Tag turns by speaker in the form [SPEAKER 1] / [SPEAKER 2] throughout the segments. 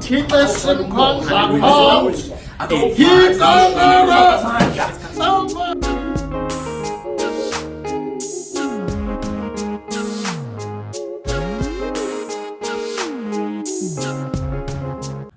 [SPEAKER 1] Thixo simkhonza ngomdla. Thixo ngomdla.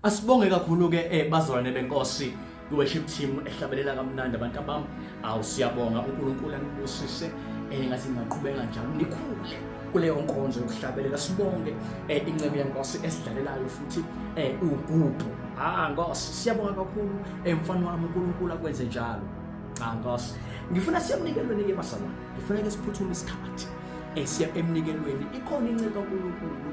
[SPEAKER 2] Asibonge kakhulu ke eh bazalwane benkosi i-worship team ehlabelela kamnandi abantu abami awu siyabonga unkulunkulu anibusise um eh, ngathi ngingaqhubeka njalo nikhule kuleyo nkonzo yokuhlabelela sibonge um incebo yenkosi esidlalelayo futhi um ugudu ha ah, nkosi siyabonga kakhulu um mfana wami unkulunkulu akwenze njalo ha ah, nkosi ngifuna siyamnikelweni-ke bazalwane ngifuna ke siphuthume isikhathi esiya emnikelweni ikhona inceka uNkulunkulu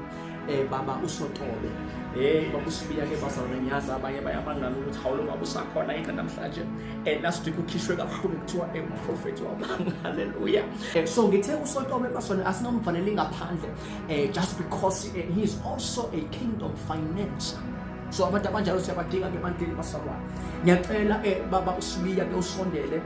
[SPEAKER 2] eh baba usotobe hey baba usibiya ke bazalwane ngiyazi abanye bayabangana ukuthi hawulo baba usakhona yini namhlanje eh last week ukhishwe kabuhlungu kuthiwa eh prophet wabanga haleluya eh, so ngithe usotobe basona asingamfanele ngaphandle eh just because eh, he is also a kingdom financer so abantu abanjalo siyabadinga ke ebantwini basalwane ngiyacela eh baba usibiya ke usondele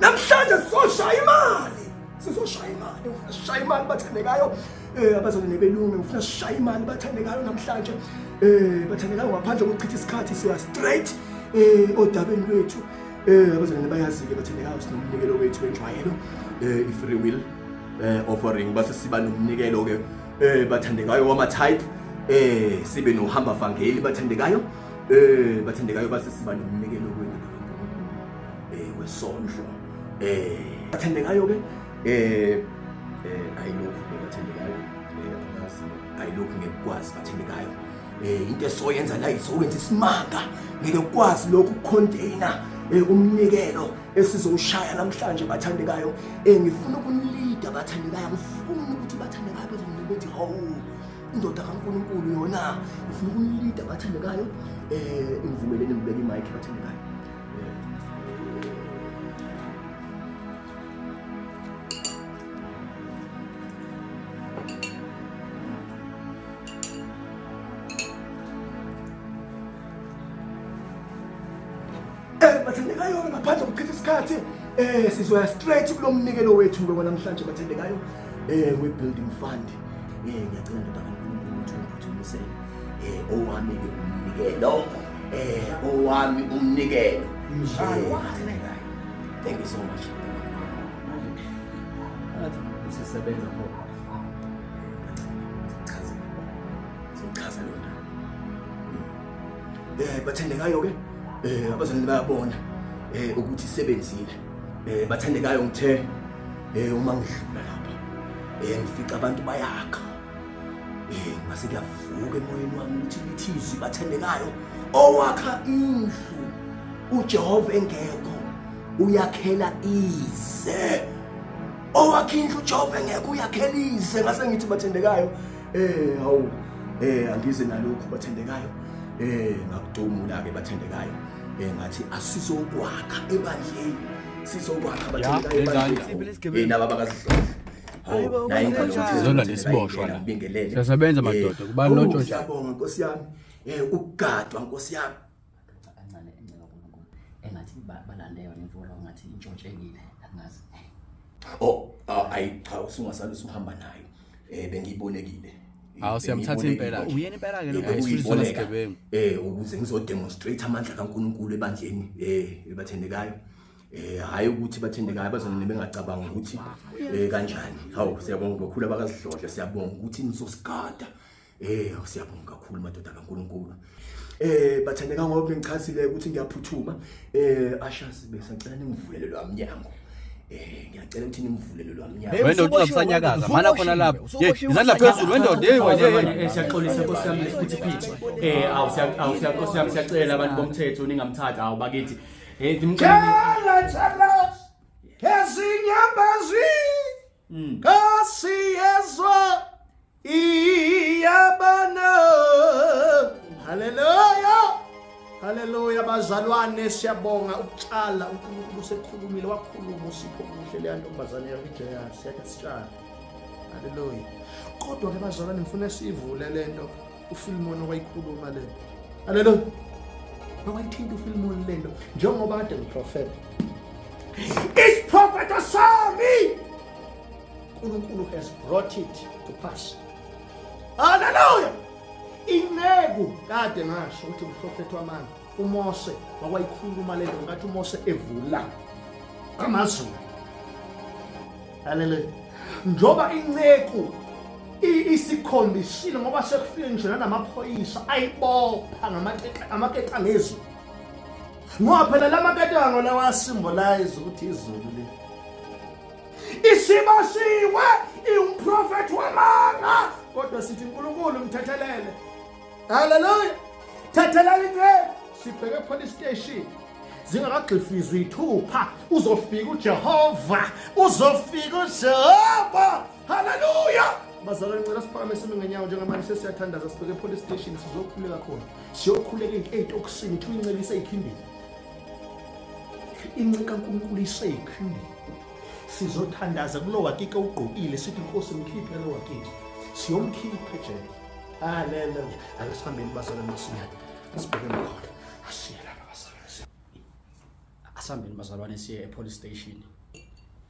[SPEAKER 3] namhlanje sizoshaya imali sizoshaya imali ngifuna sishaya imali bathandekayo eh abazali nebelungu ngifuna sishaya imali bathandekayo namhlanje eh bathandekayo ngaphandle kokuchitha isikhathi siya straight eh odabeni lwethu eh abazali nebayazile bathandekayo sinomnikelo wethu wenjwayelo eh i free will eh offering base siba nomnikelo ke eh bathandekayo wama type eh sibe nohamba vangeli bathandekayo eh bathandekayo base siba nomnikelo kwenu eh wesondlo eh bathandekayo ke eh eh ayilokhu bathandekayo eh amazi ayilokhu ngekwazi bathandekayo eh into esoyenza la isowenza isimanga ngeke kwazi lokhu container eh, umnikelo esizowushaya namhlanje bathandekayo um ngifuna ukunilida bathandekayo ngifuna ukuthi bathandekayo bezonile bethi hawu indoda kankulunkulu yona ngifuna ukunilida bathandekayo um ngivumeleni ngibeke imayikhi bathandekayo Eh bathandekayo ngaphandle kokuchitha isikhathi eh sizoya straight kulo mnikelo wethu ngoba namhlanje bathandekayo eh we building fund eh ngiyacela ndoda kaNkulunkulu ukuthi ungithumise eh owami ke umnikelo eh owami umnikelo thank you so much
[SPEAKER 2] sisebenza khona
[SPEAKER 3] chaza chaza lona eh bathandekayo ke eh abazalwane bayabona eh ukuthi sebenzile eh bathandekayo ngithe eh uma ngidlula lapha eh ngifica abantu bayakha eh ngase kuyavuka emoyeni wami ukuthi ithizwi bathandekayo owakha indlu uJehova engekho uyakhela ize owakhe indlu uJehova engekho uyakhela ize ngase ngithi bathandekayo eh hawu eh angize nalokhu bathandekayo eh ngakudumula ke bathandekayo eh ngathi asizokwakha ebandleni sizokwakha bathandekayo ebandleni eh naba bakazihlonza hawu naye ngalokuthi zona lesiboshwa
[SPEAKER 4] la siyasebenza madoda kubalotshwa njalo nkosi yami
[SPEAKER 3] eh ukugadwa nkosi yami Amadoda ancane
[SPEAKER 2] encela uNkulunkulu engathi balande yona imvula ngathi intshotshekile angazi. Oh, ah, ayi
[SPEAKER 3] cha usungasale usuhamba nayo. Eh bengiyibolekile. Hawu siyamthatha
[SPEAKER 4] impela. Uyena impela ke lo guys kusizona sigebengu. Eh ukuze
[SPEAKER 3] ngizodemonstrate amandla kaNkulunkulu ebandleni eh ebathendekayo. eh hayi ukuthi bathendekayo bazona nebengacabanga ukuthi eh kanjani hawu siyabonga kakhulu abakazidlodla siyabonga ukuthi nizosigada Eh siyabonga kakhulu madoda kaNkuluNkulu. Eh bathandeka ngoba bengichazile ukuthi ngiyaphuthuma. Eh ashazi besacela ningivulele lo mnyango. Eh ngiyacela ukuthi ningivulele lo mnyango. Hey, Wena usuboshile, ucabusanyakaza,
[SPEAKER 4] wena, mana khona usuboshile, lapho. usuboshile, Hey, izandla usuboshile. phezulu, wendoda, hey, wena, hey, hey. Eh, siyaxolisa
[SPEAKER 2] nkosi yami lesiphithiphithi eh awu siya- awu siya- nkosi yami siyacela abantu bomthetho ningamthatha awu bakithi eh ndimcela
[SPEAKER 3] Khala thalas ezinyambazi Nkosi yezwa iyabona haleluya haleluya bazalwane siyabonga ukutshala unkulunkulu usekhulumile wakhuluma usipho kuhle leya ntombazane yakujeya siyake sitshale haleluya kodwa-ke bazalwane ngifuna siyivule le nto uFilmon owayikhuluma le nto haleluya mawayithinta uFilmon le nto njengoba kade ngiprofeta isiprofeto sami uNkulunkulu has brought it to pass haleluya inceku kade ngasho ukuthi umprofethi wamanga UMose wakwayikhuluma le nto ngathi uMose evula amazulu. Haleluya. Njoba inceku isikhombisile ngoba sekufike ngisho nanamaphoyisa ayibopha ngamaketa ngezulu ngoba phela la maketa ngona wasimbolize ukuthi izulu le isibasiwe iwumprofethi wamanga kodwa sithi unkulunkulu mthethelele haleluya thathelani inceba sibheke police station zingakagxifizwa iy'thupha uzofika ujehova uzofika ujehova haleluya bazalwane ngicela siphakame sime ngenyawo njengamanje sesiyathandaza sibheke epolice station sizokhuleka khona siyokhuleka into ey'tokisini kuthiwa incela iseyikhindini inceka nkulunkulu iseyikhindini sizothandaza kulo wakike ugqokile sithi nkosi mkhiphe lo wakike siyomkhipha ejele Ah, lento nje. Ake sihambeni basala masinyane. Sibheke khona. Asiye lapha basala.
[SPEAKER 2] Asihambeni bazalwane siye e-police station.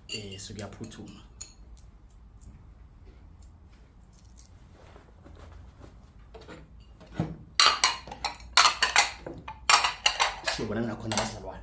[SPEAKER 2] Eh, sikuyaphuthuma. Siyobona ngakhona bazalwane.